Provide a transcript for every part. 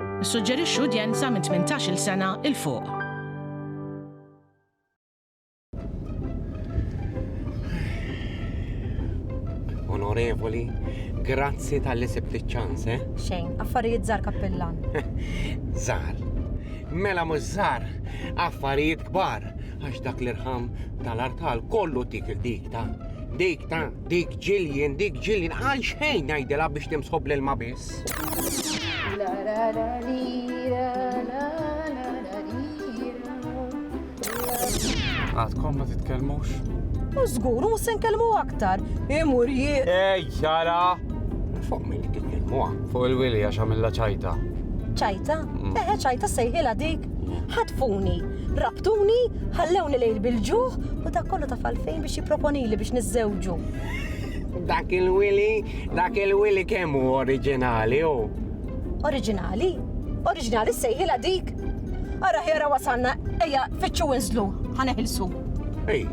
Nissuġġerixxu udjenza minn 18-il sena 'il fuq. Onorevoli, grazzi tal-li sibt iċ-ċans, eh? Xejn, affarijiet żar kappillan. Żar. Mela mhux żar, affarijiet kbar, għax dak l-irħam tal-artal kollu dik il-dik ta' dik ta' Dik Jillian, dik Jillian, għal xejn ngħidilha biex timsħob l-ilma biss. Għadkom ma titkellmux? U żgur, u se nkellmu aktar. Imur jien. Ej, jara! Fuq min titkellmuha? Fuq il-wili għax għamilha ċajta. ċajta? Mm. Eħe ċajta sejħilha dik. Ħatfuni. Rabtuni, ħallewni lejl bil-ġuħ u dak kollu taf għalfejn biex jipproponili biex niżżewġu. Dak il-wili, dak il-wili kemm hu oriġinali hu. Oriġinali? Oriġinali sejħilha dik? Ara ħjara wasalna, ejja fittxu inżlu, ħaneħilsu. Ej,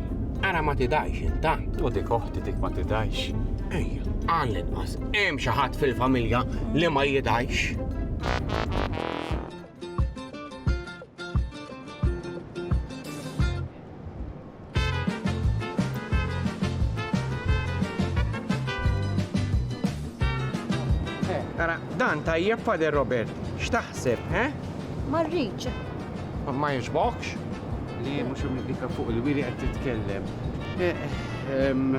ara ma tidajx intant. U dik oħti dik ma tidajx. Ej, għal inqas, hemm xi ħadd fil-familja li ma jidajx. Ara, dan tajjeb Fader Robert, x'taħseb, eh? Ma rridx. Ma jiġbokx? Li mhux imdika fuq il-wiri qed titkellem. Eh, ehm,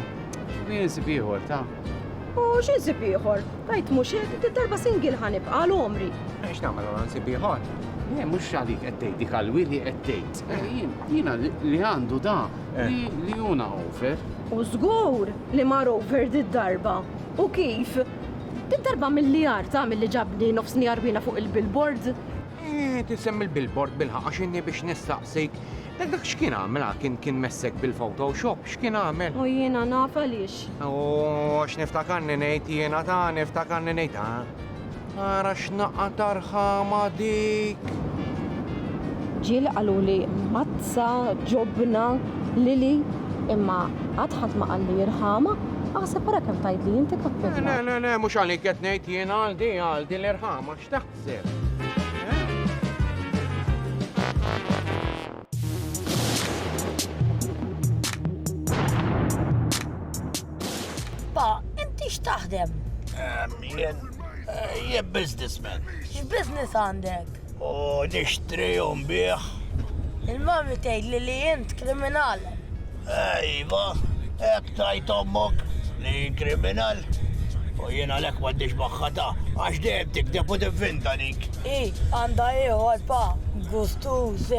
X'wien sib ieħor ta'? U xi nsib ieħor? Tajt mhux hekk, din darba single ħa nibqa' għal għomri. Eh, x'nagħmel ara nsib ieħor? Le, eh, mhux għalik qed tgħid dik għal wili qed tgħid. Eh, jiena li għandu da eh. li juna over. U żgur li mar over din darba. U kif? Din darba mill-li arta mill-li ġabni nofs nijarwina fuq il-billboard. Eh, tisem il-billboard bil-ħaqqa xinni biex nistaqsik Dak dak x'kien għamel ha? Kien kien messek bil-photo shop? X'kien għamel? U jiena naf għaliex. U għax niftakarni ngħid jiena ta' niftakarni ngħid ha? Ara x'naqqa ta' rħama dik! Ġieli qaluli mazza, ġobna, lili, imma qatt ħadd ma qalli rħama, aħseb ara kemm tgħidli inti kappilla. Le le le mhux għalik qed ngħid jiena għal di għal di l-irħama x'ta. Pa, inti x'taħdem? Jien, eh, jien businessman. X'business għandek? U nixtri u nbieħ. Il-mami tgħid li li int kriminal. Eh iva, hekk tgħid ommok li hi kriminal. U jien għalhekk m'għandix magħha ta' għax dejjem tikdeb u tivvinta dik. Hi għandha ieħor pa, gustuż.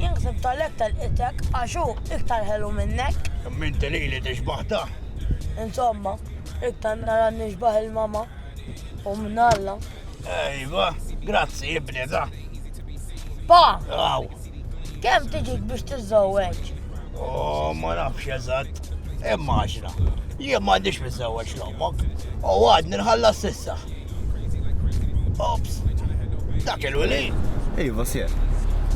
Jien ħsibt għalhekk telqitek għax hu iktar ħelu minnek. Imma inti lili tixbah ta'. Insomma, iktar nara nixbah il-mama. U minn Alla. Ejwa, grazzi ibni da. Pa! Aw. Kemm tiġik biex tiżżewweġ? Oh, ma nafx eżatt. Imma għaxra. Jien ma għandix miżżewweġ l-ommok. U għad nirħalla s-sissa. Ops. Dak il-wili. Iva, sjer.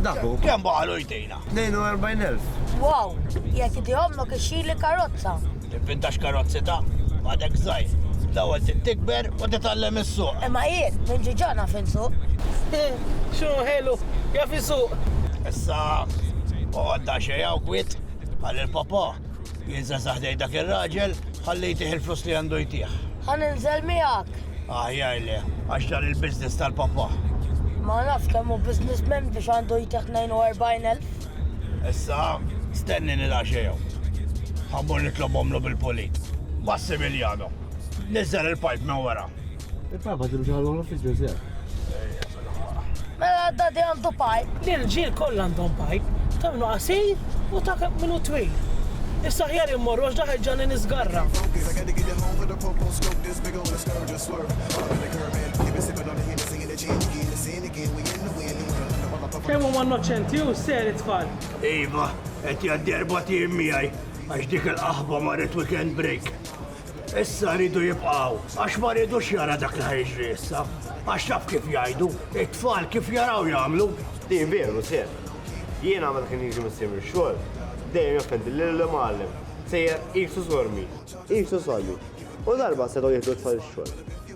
Dak u. Kemm baqalu jtina? 42,000. Wow! Jekk di ommok ixxili karozza! Tivvintax karozzi ta'? Għadek żgħir. L-ewwel trid tikber u titgħallem issuq. Imma jien, minn ġu ġo naf insuq. X'inhu ħelu, jaf isuq! Issa oqgħod daqsxejn hawn kwiet, ħalli l-Papa. Jien se nsaħħ jdejn dak ir-raġel, ħalli jtih il-flus li għandu jtih. Ħa ninżel miegħek. Aħjar le, għax dan il-business tal-pappah. Ma nafx kemm hu businessman biex għandu jtih 42,000. Issa, stennini daqsxejn hawn. Ħa mmur nitlobhomlu bil-pulit. Massimiliano, niżżel il-pipe minn wara. Il-papa ġilu ġalu l-office ġeżel. Mela dadi għandu pajp. L-irġiel kollha għandhom pajp, ta' minnu qasir u ta' minnu twil. Issa ħjar immorru għax daħħel ġalli nisgarra. Kemm huma innoċenti u ser it-tfal. Iva, qed jgħaddi erba' tim miegħi għax dik il-qaħba marret weekend break. Issa rridu jibqaw, għax ma rridux jara dak li ħajġri issa. Għax taf kif jgħidu, it-tfal kif jaraw jagħmlu. Di veru, ser. Jien għamel kien jiġi missier xogħol, dejjem jofendi lil l-imgħallem. Sejjer qisu sormi. Qisu sormi. U darba setgħu jieħdu t-tfal ix-xogħol.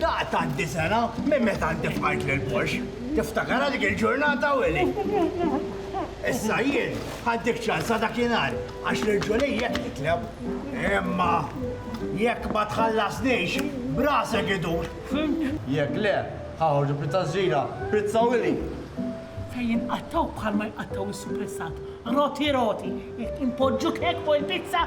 Daqt tgħaddi sena minn meta inti fqajt lil Posh. Tiftakarha dik il-ġurnata, Willy? Issa jien ħaddik ċansa dakinhar għax lil Julie hekk nitlob. Imma jekk ma tħallasnix, b'rasek idur! Fhimt? Jekk le, ħaħorġu pizza żgħira, pizza Willy! Se jinqattgħu bħalma jqattgħu s-supressat, roti roti, jekk inpoġġuk hekk fuq il-pizza,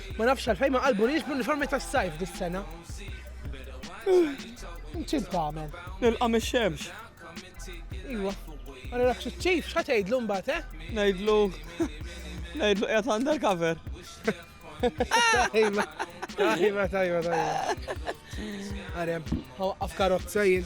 Ma nafx għalfejn ma qalbunix bl-uniformi tas-sajf dis-sena. Inċin tagħmel. Nilqa' mix-xemx. Iwa. Għalli rak ċif, x'ħa tgħidlu mbagħad, eh? Ngħidlu. Ngħidlu qiegħed undercover. Tajba, tajba, tajba, tajba. Għarem, għaw għaf karozza jien.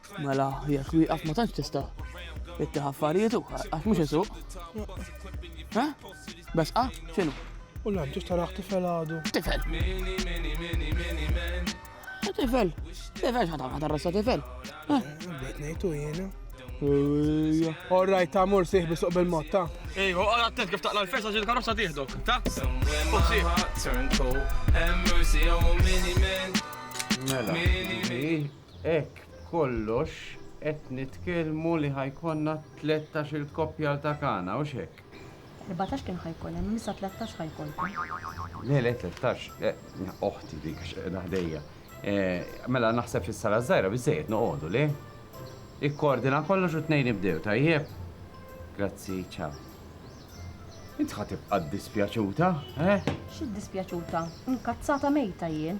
Mela, jekk wieqaf ma tantx tista' ittieħ affarijiet u għax mhux isuq. Ha? Besqa? X'inhu? U l-għam ġiex taraħ tifel għadu. Tifel. Tifel. Tifel x'ħatam ħatar rassa tifel. Bdejt ngħidu jiena. All right, ta' mur siħ bisuq bil-mod, ta' Ej, u għal attent kif taqla l-festa ġil karozza tiħdok, ta? Mela. Hekk b'kollox qed nitkellmu li ħa jkollna tlettax-il koppjal ta' Kana, hux hekk? Erbatax kien ħa jkun hemm, issa tlettax ħa jkollkom. Le, le, tlettax, le, oħti dik għax qiegħda ħdejja. Mela naħseb fis-sala ż-żgħira biżżejjed noqogħdu, le? Ikkordina kollox u t-tnejn ibdew, tajjeb? Grazzi, ċaw. Int ħa tibqa' ddispjaċuta, eh? X'iddispjaċuta? Inkazzata mejta jien.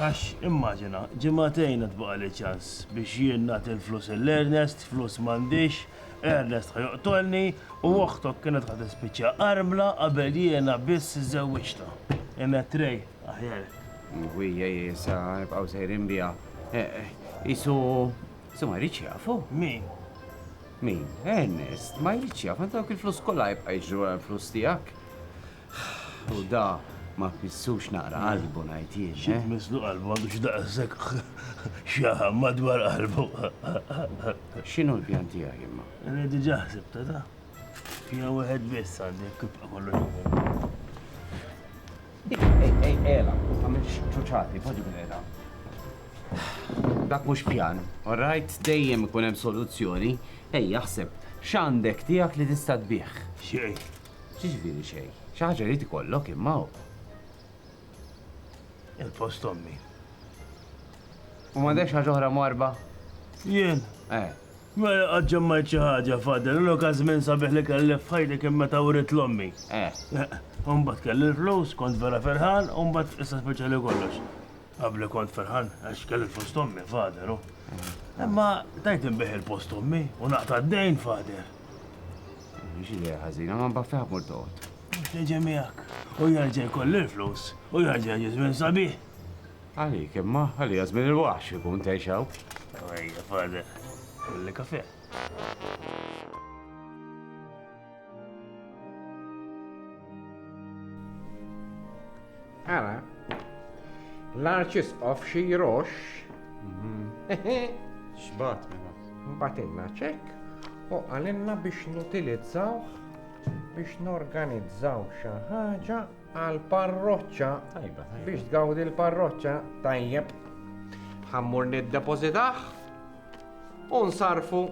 Għax, immaġina, ġimagħtejn għad baqgħali ċans biex jien nagħti l-flus lil Ernest, flus m'għandix, Ernest ħa joqtolni u oħtok kienet ħa tispiċċa armla qabel jiena biss żżewwiġtha. Inett Ray, aħjar hekk. Ħwejja hi issa nibqgħu sejrin biha. Qisu qisu ma jridx jafu. Min? Min? Ernest, ma jridx jaf, għandu dawk il-flus kollha jibqa' jiġri wara l-flus tiegħek. U da ma tmissux naqra qalbu ngħid jien. Xi tmisslu qalbu għandu xi daqshekk xaħam madwar qalbu. X'inhu l-pjan tiegħi imma? Li diġà ħsibta da. Pjan wieħed biss għandi jekk tibqa' kollox. Ej, ej, ela, ma tagħmilx ċuċati, poġġi bil-qeda. Dak mhux pjan, all right? Dejjem ikun hemm soluzzjoni. Ej, jaħseb, x'għandek tiegħek li tista' tbigħ? Xejn. X'jiġifieri xejn? Xi ħaġa jrid ikollok imma hawn. Il-post ommi. U m'għandekx ħaġa oħra mwarba? Jien? Eh. Ma qatt ġemmajt xi ħaġa fadel, l-oka żmien sabiħ li kelli f'ħajti kien meta wrid l-ommi. Eh. eh mbagħad kelli l-flus, kont vera ferħan, u mbagħad issa speċjali kollox. Qabli kont ferħan għax kelli l-post ommi fadel, u. Eh. Imma tajt inbih il-post ommi u naqta' d-dejn fader. Mhix idea ħażina, ma mbagħad fejn ħammur toqgħod. Teġa miegħek. U jarġa' jkollu l-flus u jarġa' jiġi żmien sabiħ. Għalik imma, għalija żmien il-waħx ikun tgħixaw. Ejja, fada, kulli kafe. Ara, l-arċisqof xi jrox. Xbat mela. Batilna ċek u għalinna biex nutilizzaw biex norganizzaw xi ħaġa għal parroċċa biex tgawdi l-parroċċa tajjeb. Ħammur nid-depożitaħ U nsarfu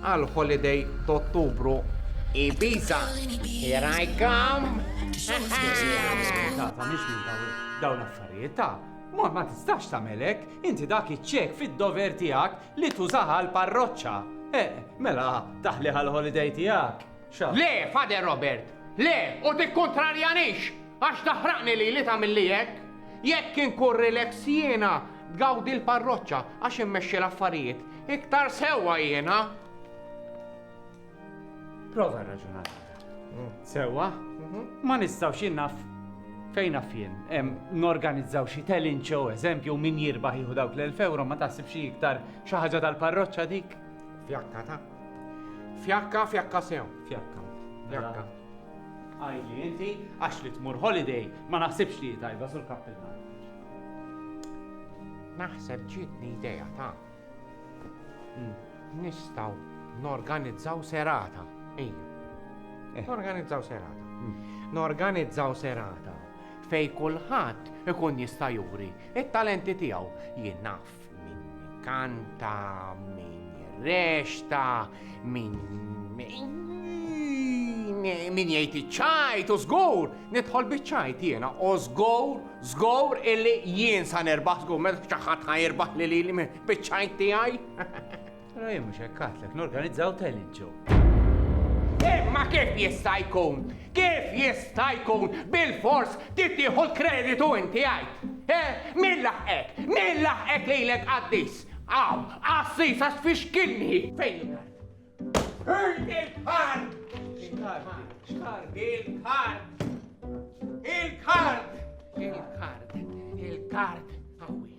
għal holiday t'Ottubru Ibiza. Here I come! Tata, miex minn dawn l-affarijiet ta' Ma ma tistax tamelek, inti dak iċċek fid-dover tiegħek li tużaha l-parroċċa. Eh, mela, taħli għal-holiday tiegħek. Le, Father Robert, le, u tikkuntrarjanix, għax taħraqni lili tagħmilli hekk. Jekk inkun relax jiena, tgawdi l-parroċċa, għax immexxi l-affarijiet, iktar sewwa jiena. Prova rraġuna l-għada. Sewwa, ma nistgħux jien naf fejn naf jien, em, norganizzaw xi telin show, eżempju, u min jirbaħ jieħu dawk l-1000 euro ma taħsibx hi iktar xi ħaġa tal-parroċċa dik. Fjakka ta' Fjakka, fjakka sew. Fjakka. Fjakka. Għajli, inti, għax li tmur holiday, ma naħsibx li tajba sul kappilla. Naħseb ġitni ideja ta' hmm. nistaw norganizzaw serata. Ej. Eh. Norganizzaw serata. Hmm. Norganizzaw serata fej kulħadd ikun jista' juri it-talenti tiegħu jien naf Min kanta, min jirrexta, min min jgħid iċ-ċajt u żgur, nidħol biċ-ċajt jiena, u żgur, żgur illi jien sa nerbaħ żgur meta ċaħat ħajrbaħ li li biċ-ċajt tiegħi. Ra jien mhux hekk għatlek norganizzaw talent show. Imma kif jista' jkun? Kif jista' jkun bil-fors tittieħu l-kreditu inti għajt? Eh, min laħqek? Min laħqek lilek qaddis? Aw, qassis għax fiex kilni fejn il-kart? Fejn il-kart? Xkart il-kart? Il-kart! Il-kart! Il-kart!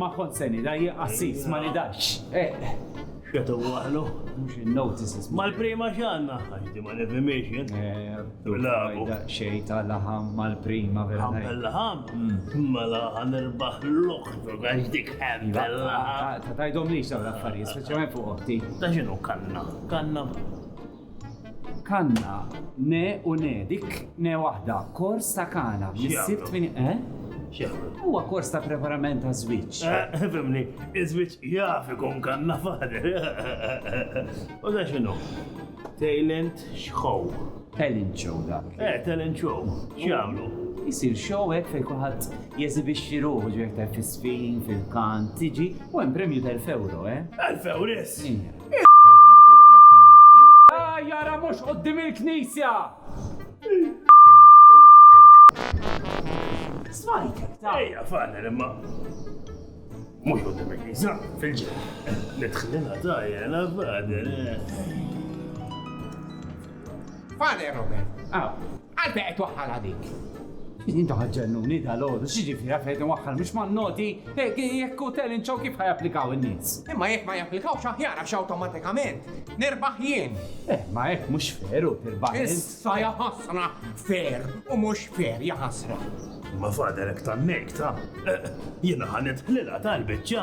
Ma kont se nidha jien qassis ma nidhax. X'qed iwaħħlu? Mhux in-notices. Mal-prima x'għandna? Għax di ma nifhimhiex jien. Bilgħaqu. Daqsxejn ta' laħam mal-prima vera. Ħampel laħam? Mela ħa nirbaħ l-oħrok għax dik ħampel laħam. Ma tgħidhomlix dawn l-affarijiet, speċjalment fuq oħti. Ta' x'inhu kanna? Kanna? Kanna, ne u ne, dik ne waħda, kors ta' kana, missier tmini, eh? X'jagħmlu? Huwa kors ta' preparament ta' żwieġ. Eh, fimni, iż-żwieġ jaf ikun kanna fader. U da x'inhu? Talent show. Talent show dak. Eh, talent show. X'jagħmlu? Isir show hekk fejn kulħadd jeżibixxi ruħu ġejk tal-fisfin, fil-kan, tiġi, u hemm premju tal-fewro, eh? Tal-fewris? Iva. Jara mhux quddiem il-knisja! Smajt! Ejja, fader, imma mhux quddiem il-knisja, fil-ġen. Nidħlina tajja, la fader. Fader Robert. Ah. Għal fejn qed twaħħalha dik? Intom qed ġennuni dalgħodu, x'jiġifieri għal fejn qed inwaħħal mhux man-noti? Jekk hu telling show kif ħa japplikaw in-nies? Imma jekk ma japplikawx aħjar għax awtomatikament nirbaħ jien. Eh, ma hekk mhux fair hu tirbaħ int. Issa ja ħasra fair u mhux fair ja ħasra. Imma fader hekk tannejta. Jiena ħa nidħlilha tal-biċċa.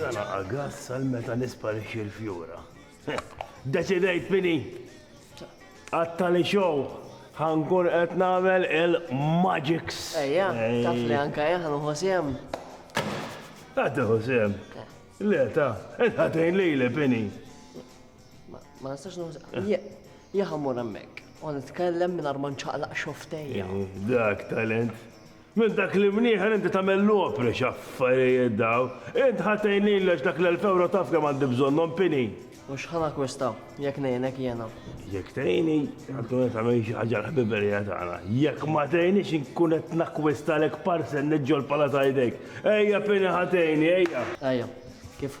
Żalaqa gass għal meta nisparixxi l-fjura. Deċidejt fini. Għattali xow ħankun qed nagħmel il-magics. Ejja, taf li anka jien ħanuħu sehem. Ħadd iħu sehem. Le ta, qed ħatejn lili fini. Ma nistax nuża. Jaha mur hemmhekk. U nitkellem minn ma nċaqlaq xoftejja. Dak talent. Minn dak li mnieħer inti tagħmel l-opri x'affarijiet daw. Int ħatejn lili għax dak l-elf ewro taf kemm għandi bżonnhom pini. U x'ħan akkwista jekk ngħinek jiena? Jekk tgħini, għandu qed tagħmel xi ħaġa l-ħbiberija tagħna. Jekk ma tgħinix inkun qed nakkwistalek parcel niġġolpala ta' jdejk. Ejja pini ħatejni, ejja. Ejja, kif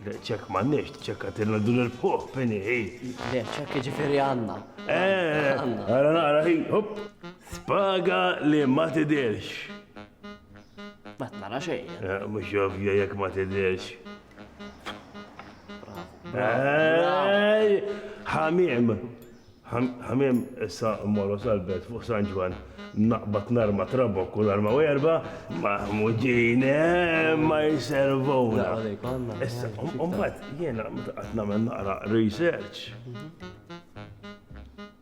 Le, ċekk m'għandniex, tiċċekkatilna dur il fuq fini hi. Le, ċekk jiġifieri għandna. Eh, ara nara hi, hop, spaga li ma tidirx. Ma tnara xejn. Eh, mhux ovvja jekk ma tidirx. Ħamim, Ħamiem, Issa mmorru sal-belt fuq San Ġwann, naqbad l-arma trabokk u l-arma werba', Maħmudin, eemm ma jservuna. Issa, u mbagħad jiena meta qgħadt nagħmel naqra research,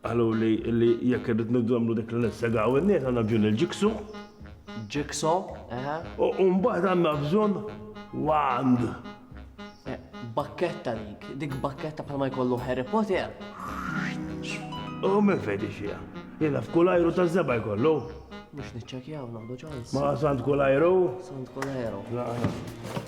qaluli li jekk irrid nagħmlu dik li nissegaw in-nies għandna bżonn il-jigsaw. Jigsaw, eħe. U mbagħad għandna bżonn wand. Bakketta dik, dik bakketta bħalma jkollu Harry Potter. U minn fejn tixxiha? Jilaf kull ajru ta' żebgħa jkollu. Mhux niċċekjaw nagħdu ċans. Ma sant kull ajru? Sant kull ajru. Naqra.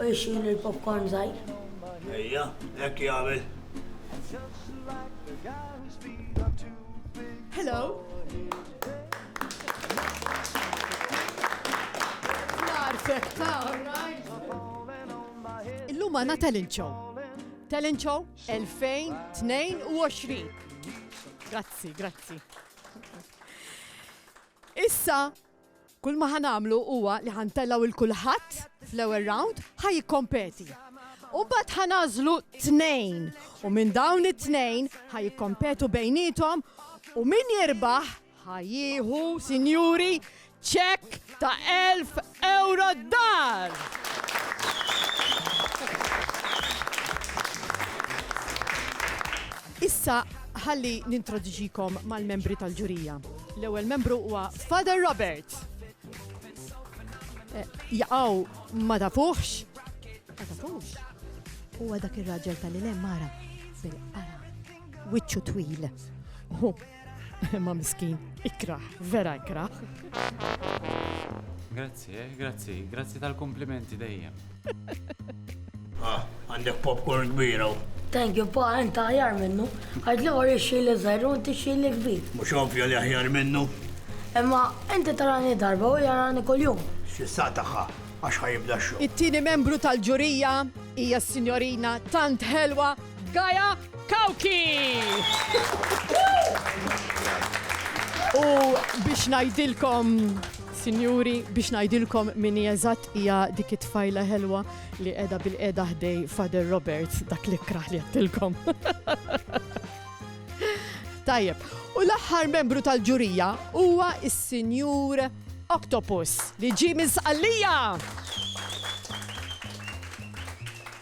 u jxil il-popcorn żgħir. Ejja, hekk jagħmel. Hello. Narfek ta' Illum għana talent show. Talent show 2022. Grazzi, grazzi. Issa Kull ma ħa nagħmlu huwa li ħa ntellgħu 'l kulħadd fl-ewwel round ħa jikkompeti. U mbagħad ħa nagħżlu tnejn u minn dawn it-tnejn ħa jikkompetu bejniethom u min jirbaħ ħa jieħu, sinjuri, ċekk ta' 1000 euro d-dar! Issa ħalli nintroduċikom mal-membri tal-ġurija. L-ewwel membru huwa Father Robert. Eh, Jaqaw ma tafuħx. Ma tafuħx. Huwa dak ir-raġel tal-ilem mara bil-qara. Wiċċu twil. Ma miskin, ikrah, vera ikrah. Grazzi, eh, grazzi, grazzi tal-komplimenti dejjem. Ah, għandek popcorn kbira. Thank you, pa, enta ħjar minnu. Għad li għor xili zaħru, inti xili kbir. Mux ovvja li ħjar minnu. Imma, inti tarani darba u jarani kol-jum. Xissa taħħa, għax ħajibda xo. It-tini membru tal-ġurija hija s-signorina tant ħelwa Gaia Cauchi! U biex ngħidilkom Sinjuri, biex ngħidilkom min hija eżatt hija dik it-tfajla ħelwa li qiegħda bil-qiegħda ħdej Father Robert dak li kraħ li għattilkom. Tajjeb, u l-aħħar membru tal-ġurija huwa is-Sinjur Octopus li ġi minn Sqallija.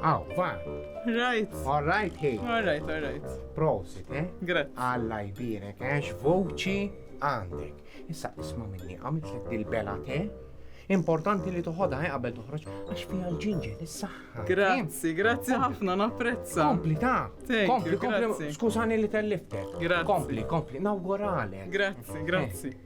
Aw, va. Right. All right, hey. All right, all right. Prosit, eh? Grazie. Alla jbirek, eh? X'voċi għandek. Issa isma minni, għamilt l dil-bela te? Importanti li toħodha eh, qabel toħroġ għax fiha l-ġinġer is-saħħa. Grazzi, grazzi ħafna napprezza. Kompli ta. Kompli, kompli. Skużani li telliftek. Grazzi. Kompli, kompli. Nawguralek. Grazzi, grazzi. Eh.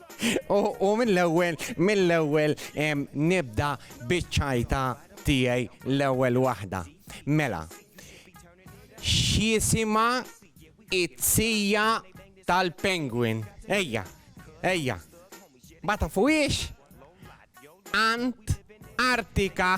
U mill-ewwel, mill-ewwel nibda biċ-ċajta tiegħi l-ewwel waħda. Mela, x'jisimha it-sija tal-penguin? Ejja, ejja. Ma tafuhiex? Ant Artika.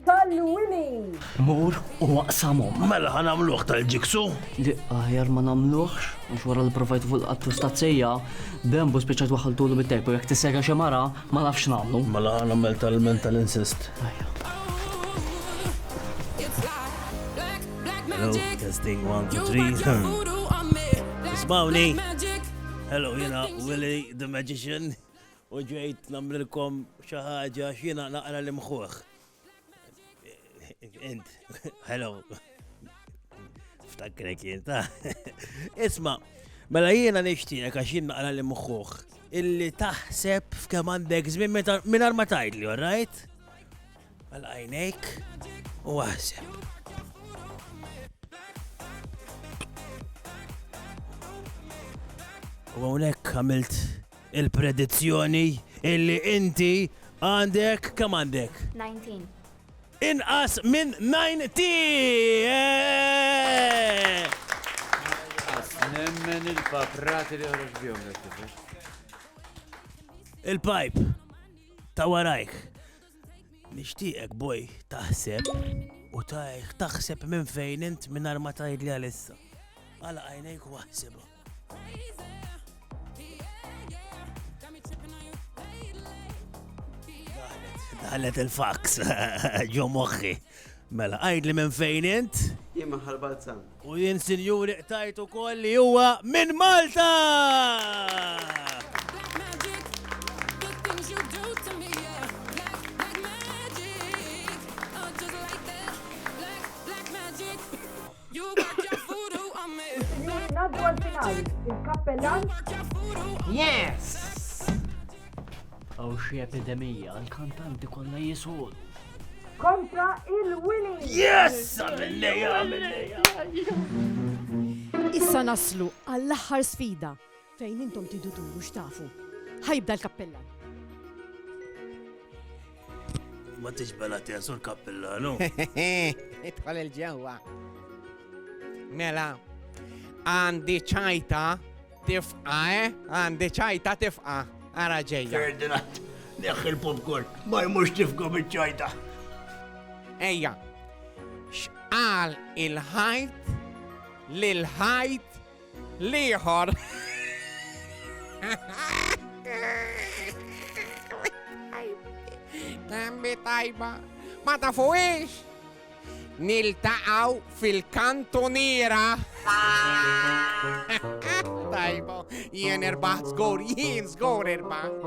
Tallu Willie! Mur u aqsamhom. Mela ħa nagħmluh tal-ġiksu? Le, aħjar ma nagħmluhx, għax wara li provajt fuq il-qatt u stazzija, Bembu spiċċajt waħħaltulu bit-tejp u jekk tissejra xi mara, ma nafx x'nagħmlu. Mela ħa nagħmel tal-ilment tal-insist. Ajja. Hello, testing one, two, three. Ismawni! Hello, jena Willie the Magician. U ġejt namrilkom xi ħaġa x'jiena naqra l-imħuħ. Int, hello. Ftakkrek jien ta'. Isma', mela jiena nixtieqek għax jien naqra l-imħuħ illi taħseb f'kemm għandek żmien mingħajr ma tgħidli, all right? għal għajnejk u għasem. U għonek għamilt Il-predizzjoni illi inti għandek kemm għandek? 19. Inqas minn 90! Eh! Nemmen il-paprati li għarġ bjom Il-pipe ta' warajk. Nishtiqek boj taħseb u taħseb minn fejn int minn arma tajd li għalissa. Għala għajnejk u għahseba. Għallet il-fax, ġo moħħi. Mela, għajd li minn fejn int? Jien maħal Balzan. U jien sinjuri qtajtu koll li huwa minn Malta! Sinjuri, ngħaddu għall-finali. Il-kappellan. Yes! Għaw xi epidemija, l-kantanti kollha jisolu. Kontra il-winning! Yes! Għamilleja, għamilleja! Issa naslu għall-aħħar sfida Fejn intom tridu turu x'tafu. Ħa jibda l-kappellan. Ma tix bela tesu l-kappellanu. Idħol il-ġewwa. Mela, għandi ċajta tifqa, eh? Għandi ċajta tifqa. Ara ġejja. Ferdinand, neħħ il-popcorn, ma jmux tifqa bieċajta. Ejja, xqal il-ħajt, l-ħajt L-ieħor. Tembi tajba, ma tafuwiex. Niltaqaw fil-kantuniera. Tajba, jien irbaħt zgur, jien zgur irbaħt.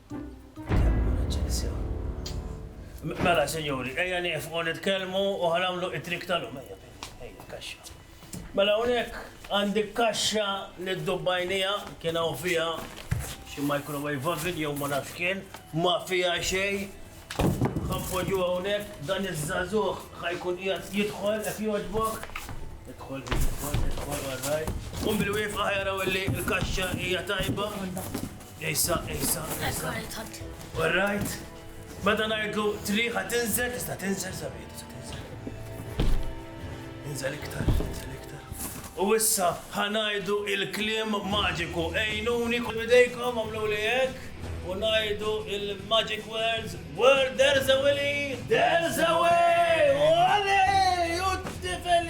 Mela, sinjuri, ejja nifqu nitkellmu u ħanamlu it-trik tal-lum, ejja, ejja, kaxxa. Mela unek, għandi kaxxa li d-dubbajnija kien hawn fija xi microwave oven jew ma nafx kien, ma fija xej. Ħanpoġu hawnhekk dan iż-żagħżugħ ħajkun qiegħed jidħol qed jogħġbok. Idħol, idħol, idħol, għarraj. Um bil-wieqfa ħajraw li l-kaxxa hija tajba. Issa, issa, issa. All right. Meta ngħidlu triħa tinżel, tista' tinżel sabiħ, tista' tinżel. Inżel iktar, inżel iktar. U issa ħanajdu il-kliem maġiku. Ejnuni kull bidejkom għamlu li hekk u ngħidu il-magic words where there's a willy, there's a way! Wale! U t-tifel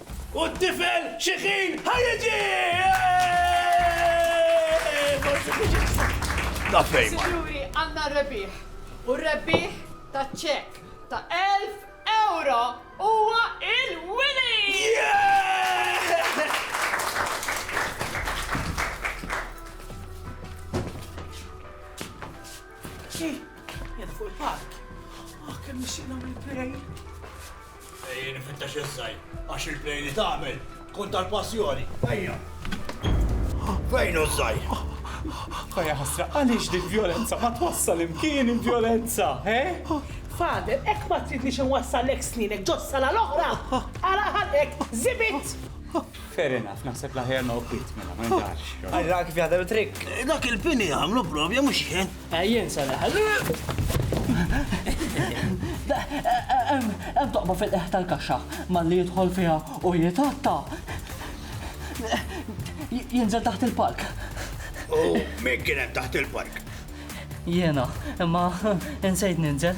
U t-tifel xi ħin ħa jiġi! Sinjuri, għandna r-rebbieħ! U r-rebbieħ ta' ċekk ta' elf ewro huwa il-winner! Ejjeni fittex iż-żgħir għax il-play li tagħmel tkun tal-passjoni. Ejja! Fejn hu ż-żgħir? Ħa ja ħasra, għaliex din vjolenza ma twassal imkien il-vjolenza, he? Father, hekk ma tridnix inwassallek sninek ġo s-sala l-oħra! Ara ħalqek, żibit! Fair enough, naħseb l-aħjar noqgħod kwiet mela, ma nidhaqx. Ara kif jaħdem it-trikk. Dak il-pini għamlu provja mhux jien. Jien se neħel. Hemm toqba fil-qiegħ tal-kaxxa, malli jidħol fiha u jitgħatta, jinżel taħt il-palk. U min kien hemm taħt il-palk? Jiena, imma insejt ninżel.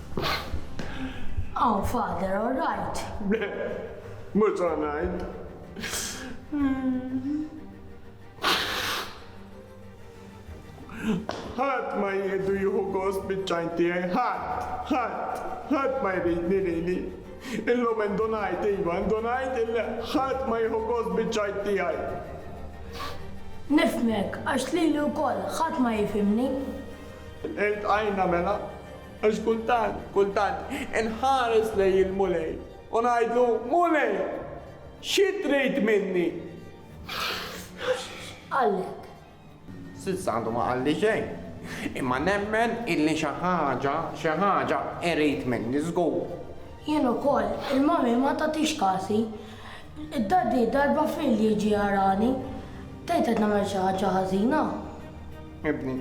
Hawn Father, all right? Le, mhux all right. Ħadd ma jieħdu jieħu gost biċ-ċajn tiegħi, ħadd, ħadd, ħadd ma jridni lili. Illum indunajt, iva, indunajt illi ħadd ma jieħu gost biċ-ċajn tiegħi. Nifhmek, għax lili wkoll ħadd ma jifhimni. Iltqajna mela, Għax kultant, kultant, inħares lejn il-Mulej u ngħidlu, Mulej, xi trid minni? X'qallek? S'issa għadu ma qalli xejn, imma nemmen illi xi ħaġa, xi ħaġa irid minni żgur. Jien ukoll, il-Mommy ma tagħtix kasi. Daddy darba f'lejl jiġi jarani. Tgħid qed nagħmel xi ħaġa ħażina? Ibni.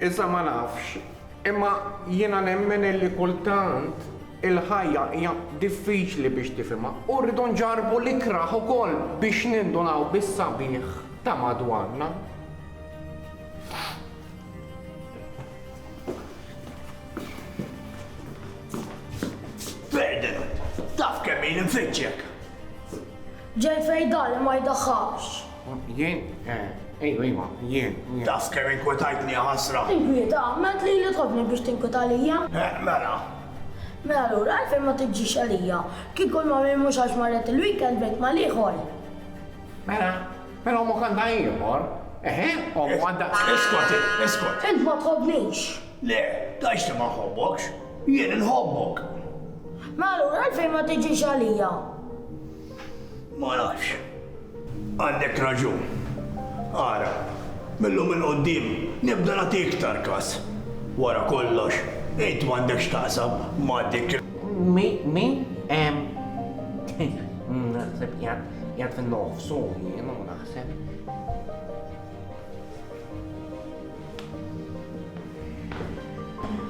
Iżda ma nafx, imma jiena nemmen illi kultant il-ħajja hija diffiċli biex tifhimha u rridu nġarrbu l-ikrah ukoll biex nindunaw bis-sabiħ ta' madwarna. Ferdinand, taf kemm ili nfittxek! Ġej fejn dan ma jdaħħalx. Jien, ejju, eh, ejwa, jien. Taf kemm inkwetajtni ħasra. Inkwieta, ment li li tħobni biex tinkweta lija. Eh, mela. Mela lura għalfejn ma tiġix għalija. Kien kull ma minn mhux għax marret il-weekend bejt ma liħor. Mela, mela omok għandha ieħor. Eħe, omok għandha. Iskot, iskot. Int ma tħobnix. Le, tajx li ma nħobbokx. Jien inħobbok. Mela lura għalfejn ma tiġix għalija. Ma nafx. Għandek raġun. Ara, mil-lum 'il quddiem nibda nagħti iktar kas. Wara kollox, int m'għandek x'taqsam ma' dik il-. Min? Naħseb qiegħed fin-nofs hu jien u naħseb.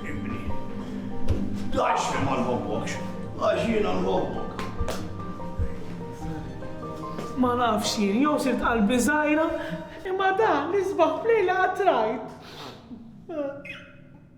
Ibni. Tgħidx li ma nħobbokx, għax jiena nħobbok. Ma nafx jien, jew sirt qalbi żgħira, imma dan l-isbaħ f'lejla qatt rajt.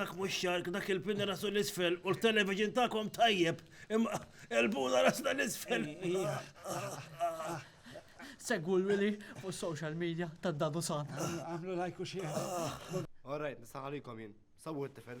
dak mux xark, dak il-pinna rasu l-isfel, u l-television ta'kom tajjeb, imma il-buna rasna l-isfel. Segwu l-Wili fuq social media ta' Dadu San. Għamlu lajk u xieħ. All right, nistaħalikom jien. Sawu t-tifel.